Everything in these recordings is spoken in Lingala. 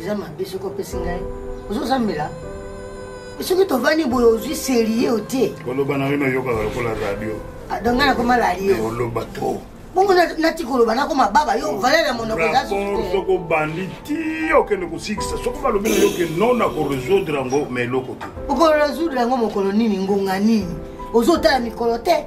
eza mabe soki opesi ngai ozozambela soki tovandi boye ozwi serie o te oloba na bino oyokaka lokola radio ah, donc ngai nakoma radio eh, oloba to bongo nati koloba nakoma baba yo valeur ya monoko eza soki obandi ti okende kosikisa soki balobi na yo ke non nakoresoudre yango ma eloko te okoresoudre yango mokolo nini ngonga nini ozotala mikolo te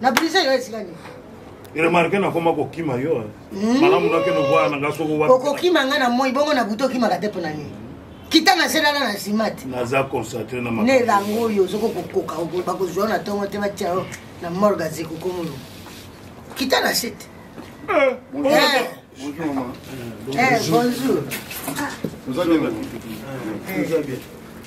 na brise yo esika nini remarke nakoma kokima yo hmm. malamu nakende koya na nga soko wapi okokima nga na moi bongo na butu okimaka te mpo na nini kita na se lala na nsima te naza concentre na ne elango oyo ozoko kokoka bakozwa na ntongo te batya yo na morga zekokomolo kita na se te eh, eh. Eh, bonjour. Vous allez bien.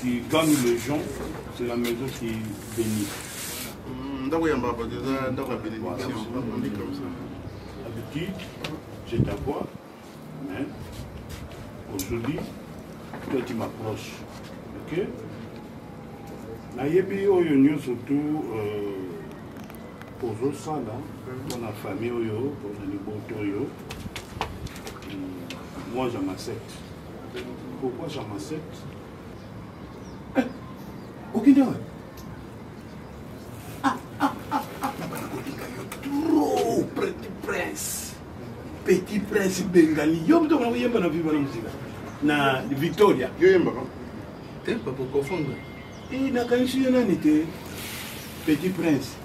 Qui gagne les gens, c'est la maison qui bénit. Hmm, ndako ya mbaba eza ndako ya bénédiction on dit comme ça habitude je t'avoue mais aujourd'hui toi tu m'approches ok nayebi oyo nyonso tu euh, ozosala mpona famille oyo mpona libota oyo hmm, moi je m'accepte Pourquoi j'en m'accepte Okende wapi Ah, ah, ah, ah, nabana kolinga yo trop Petit Prince Petit Prince Bengali yo moto okona koyemba na viva na mosika na Victoria yo yembaka te papa okofondre e nakanisi yo nani te Petit Prince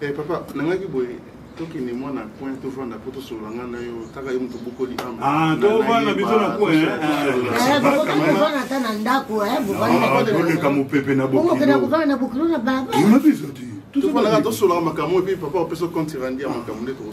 Eh, papa nangaki boye tokende mwa na coin tovanda mpo tosolola ngai na yo taka ye moto bokoli ah, tovanda biso na coinbovanda ata na ndako boleka mopepe na bokilokovanda na bokilo na baba biso te tosolaka makambo epi papa opesa compte randi ya makambo nde toko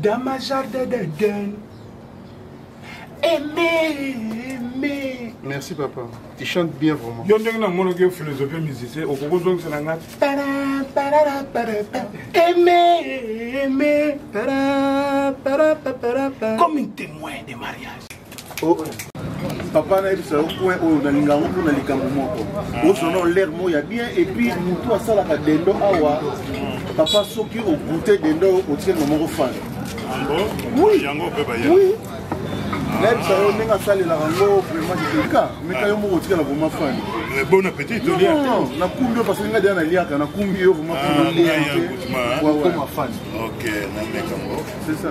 Dans ma jardin d'Eden. Aimé, aimé. Merci papa. Tu chantes bien vraiment. Yo ndenge na mono ke philosophie musicien okoko zongisa na ngai. Para para para para. Aimé, aimé. Para para para para. Comme un témoin de mariage. Oh. papa nayebisa yo point oyo nalinga yango mpona likambo moko ozona olaire moko ya bien epuis motu asalaka dendo awa papa soki ogoute dendo otie ngo moko fan oui nayebisa yo ndenge asalelaka yango vraiment kika meka yo moko otikala vraimen fani eh, bon appétit tolia nakumbi yo parce que nga deya naliaka nakumbi yo vraimen fani ah, okoma fani c'est ça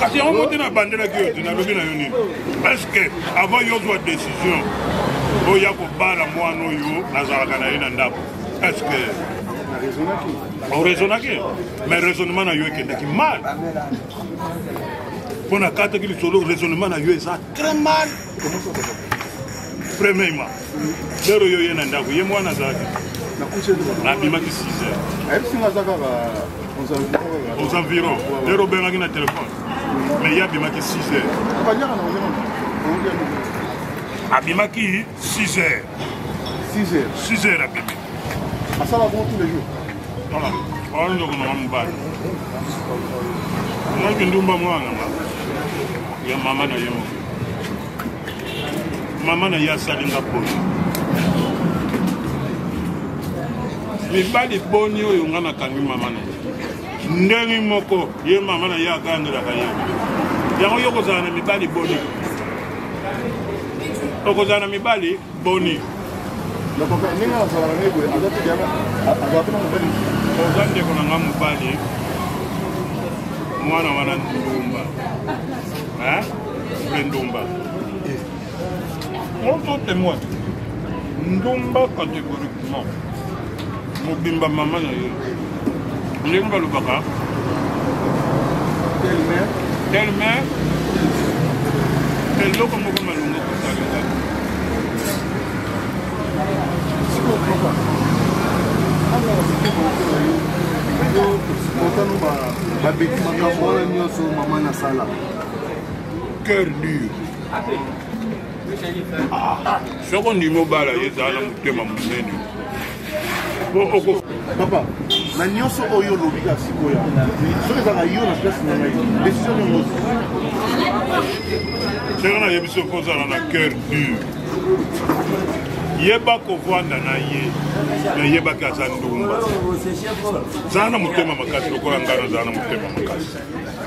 kasi yango mote nabandelaki yo te nalobi na yo nini parceke avant yo ozwa décision oya kobala mwana oyo nazalaka na ye na ndako parceke oraisonnaki mais raisonnement na yo ekendaki mal mpo nakataki lisolo raisonnement na yo eza très mal premièrement lero yo ye na ndako ye mwana azalaki abimaki 6 aux environs lero obengaki na telefone mais ye abimaki 6 heures abimaki 6 heures 6 heures abimi asala bongo tous les jours oyo ndoko nanga mobali naki ndumba mwana nga ya mama na ye moke mama na ye asali nga poni mibali boni oyo nga nakangi mama na ye ndenge moko ye mama na ye akangelaka ye yango yo kozala na mibali boni okozala na mibali boni oza ndeko na nga mobali mwana wana ndumba mpe ndumba on peut témoin ndumba catégoriquement mobimba mama na yo ndenge balobaka telme eloko moko malonga kosalela motano babeti makambo oyo nyonso mama nasala cœur dur soko ndimi obala ye ezala na motema monene papa na nyonso oyo olobi kaka sikoya soki ezalaka yo na place na ngai desizio niongo soki nayebi soki ozala na cœur dur yeba kovanda na ye me yebaki aza ndumba zala na motema makasi lokola ngai nazala na motema makasi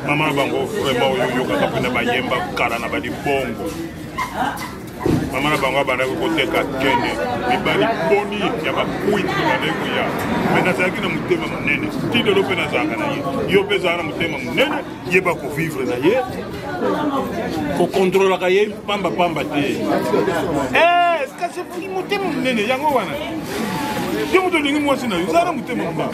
mama na bango vraiment oyo oyokaka mpena bayemba kala na balibongo mama na bango abandaki koteka kende mibali boni ya bakwiti bandaki koya me nazalaki na motema monene ti lelo mpe nazalaka na ye yo mpe ezala na motema monene yeba kovivre na ye kokontrolaka ye pamba pamba te eh, kasi motema monene yango wana yo moto olingi mwasi na yo zala na motema monene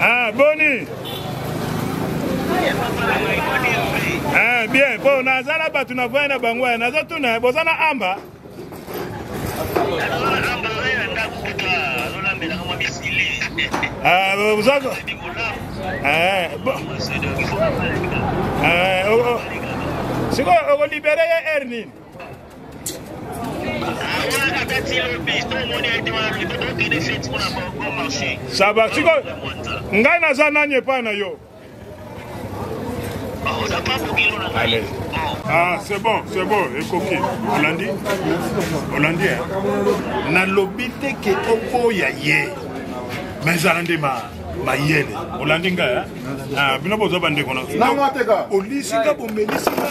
Ah, boni ah, bien mpo naza na bato navaya na bango ya naza tuna boza na amba ah, boza eh, eh, oh, oh. sikoyo okolibere ye heure nini saba siko ngai naza nani epai na yo Allez. Ah, c'est bon, c'est bon, ekoki. Olandi Olandi hein. Nalobi te ke oboya ye. Mais ezala nde ma mayele. Olandi ngai hein. Ah, bino boza bandeko na. Olisi nga bomelisi nga.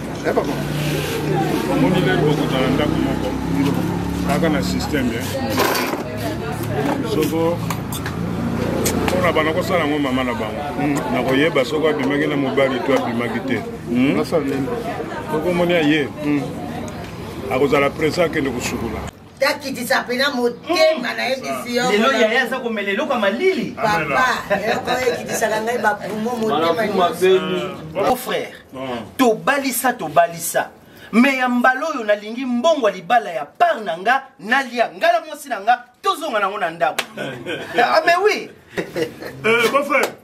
Eh, papa. Omoni lelo bokotala ndako moko kaka na systeme eh. soko mpona bana kosala yango mama na bango hmm. nakoyeba soko abimaki na mobali to abimaki te hmm. sokomoni aye hmm. akozala presa akende kosukula takitisa mpena motema na ye bisi yo lelo yaya aza komela eloko ya malili papa eloko ekitisaka ngai bapumo motema mon frère tobalisa tobalisa me ya mbala oyo nalingi mbongo ya libala ya par na nga nalia ngai na mwasi na nga tozonga nango na ndako ame ah, wi eh,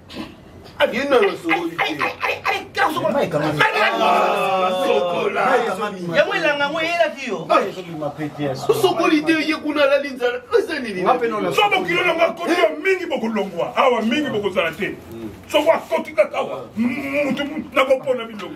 abino yosokoli yango elanga yango eyelaki yo osokoli te ye kuna alali nzala eza ninisobo kilo nango akoti yo mingi bokolongwa awa mingi bokozala te soko akoti kaka awa mutu nakopona bilongo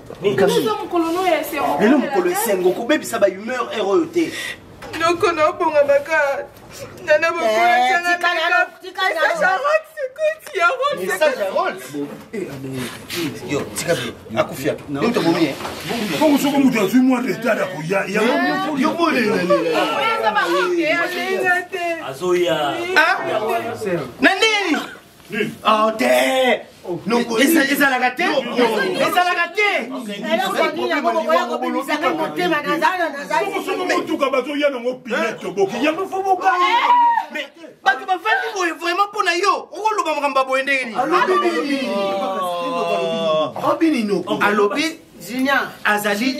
lelo mokolo esengo kobebisa ba humeur heure oyo te noko naobonga makate nana bokoyaongo soko moto azwi mwa retard akoya yangoazoya na nini Oh, te ezalaka te ezalaka tesoki motuka bazoya nango pine toboki yango fo boka bato bafandi boye vraiment mpo na yo okoloba makambo ya boye ndenge nini alobi azali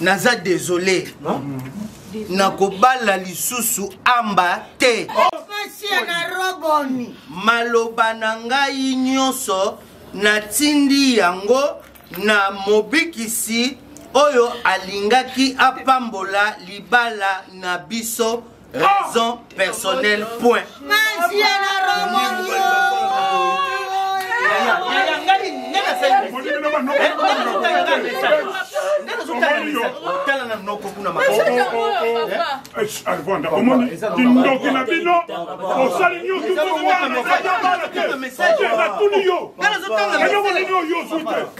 naza desole nakobala lisusu amba te maloba na ngai nyonso natindi yango na mobikisi oyo alingaki apambola libala na biso raison personnelle point tala na noko kuna arvanda omoni kindoki na bino osali nyonso natuni yo eloko nini oyo ozwi te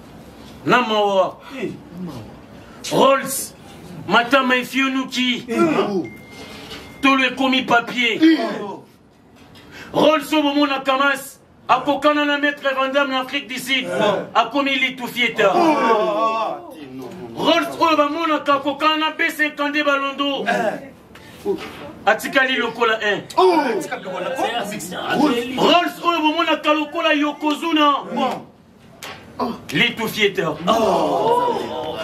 na mawa rolls matama efionuki tolo ekomi papier rolls oyo bomona kamas akokana na maître vandam na afrique du sud akomi litufieta rolls oyo bamonaka akokana na b52 balondo atikali lokola 1 rolls oyo bomonaka lokola yokozuna Oh. Litou Fieter. Oh.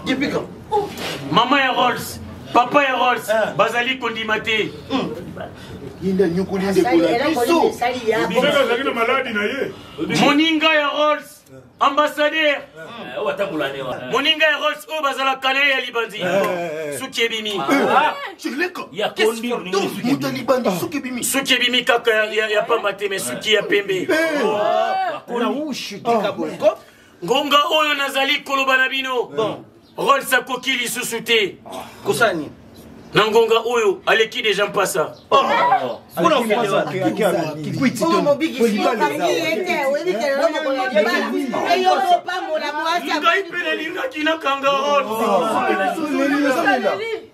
Depuis quand oh. Maman et Rolls, papa et Rolls, ah. Bazali Kondimate. Hmm. Linda Nyukuli Ndekola. Biso. Biso azali na maladi na ye. Moninga ya Rolls. ambassadeur moninga ya rols oyo bazalaka na ye ya libandi suki ebimi suki ebimi kaka ya pamba te me suki ya pembe tika boye ngonga oyo nazali koloba na bino rols akoki lisusu te kosala nini na ngonga oyo aleki deja mpasa ngai mpe nalingaki nakanga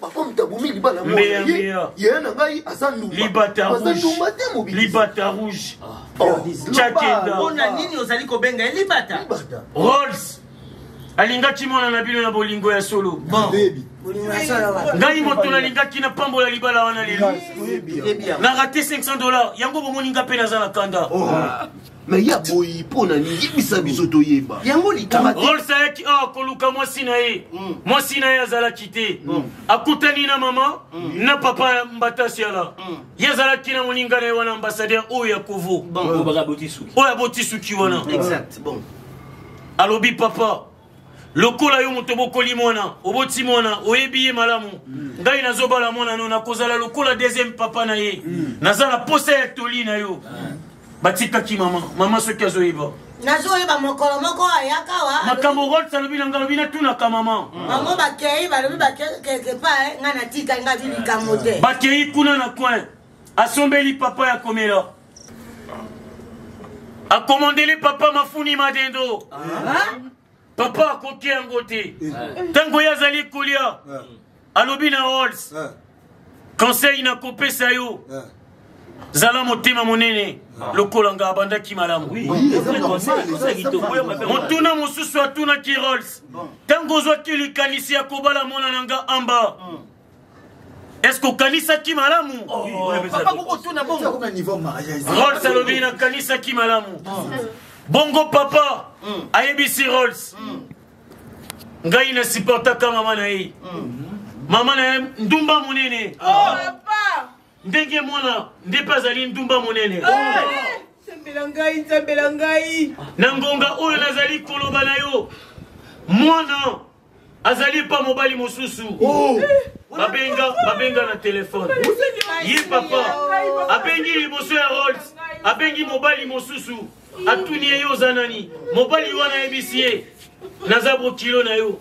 bakomta bomi libala mbeya mbeya yeye na ngai aza ndumba libata aza ndumba te mobi libata rouge ah. oh. chakenda mpona nini ozali kobenga ye libata rolls alingaki mwana na bino na bolingo ya solo bon ngai moto nalingaki napambola libala wana lelo na rate 500 dollars yango bomoni nga mpe naza na kanda oh. ah. me ye aboyi mpo na nini yebisa biso toyeba yango likamolse ayaki awa koluka mwasi na ye mm. mwasi na ye azalaki te mm. akutani na mama mm. na papa mbatasiala ye azalaki na moninga na ye wana ambassadeur oyo ya kovo oyo aboti suki wana alobi papa lokola yo moto obokoli mwana oboti mwana oyebi ye malamu ngai nazobala mwana no nakozala lokola deuxième papa na ye naza na posa ya toli na yo batikaki mama mama soki azoyeba nazoyeba mokolo moko ayaka wa makambo rols alobi na ngai alobi natunaka mama bango bakei balobi bakeke pa eh, ngai natikali ngai vi likambo te bakei kuna na coin asombeli papa ya komela akomandele papa mafuni madendo papa akoki yango te ntango ye azali kolia alobi na hols conseil nakopesa yo zala motema monene lokola nga abandaki malamu motuna mosusu atunaki rols ntango ozwaki likanisi ya kobala mwana na nga amba eske okanisaki malamu rols alobi nakanisaki malamu bongo papa mm. ayebisi rols mm. ngai nasiportaka mama na ye mm. mama na ye ndumba monene oh, ndenge mwana nde mpe azali ndumba monene sambela ngai nsambela ngai na ngonga oyo nazali koloba na yo mwana azali pa mobali mosusu oh. babenga babenga na telefone ye papa abengi liboso ya rolls abengi mobali mosusu atuni ye yo oza nani mobali wana ayebisi ye naza bokilo na yo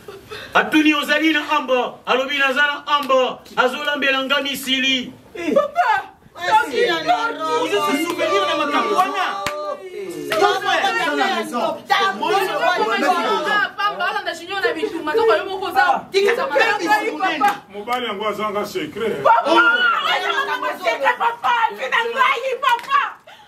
atuni ozali na amba alobi naza na amba azolambela nga misili eh. mobali yango azanga secret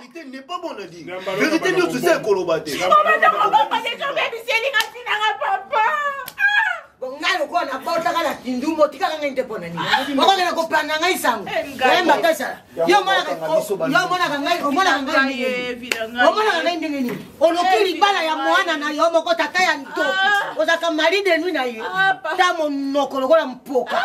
vérité n'est pas bon na dire vérité nyonso eza ekoloba te ngai lokola nabotaka na kindu motikaka ngai nte mpo na nini okokenda kopanda ngai sango oyemba te sala yo omonaka ngai omonaka ngai ndenge nini oloki libala ya mwana na yo moko tata ya ntoki ozalaka mari de nui na ye ta monoko lokola mpoka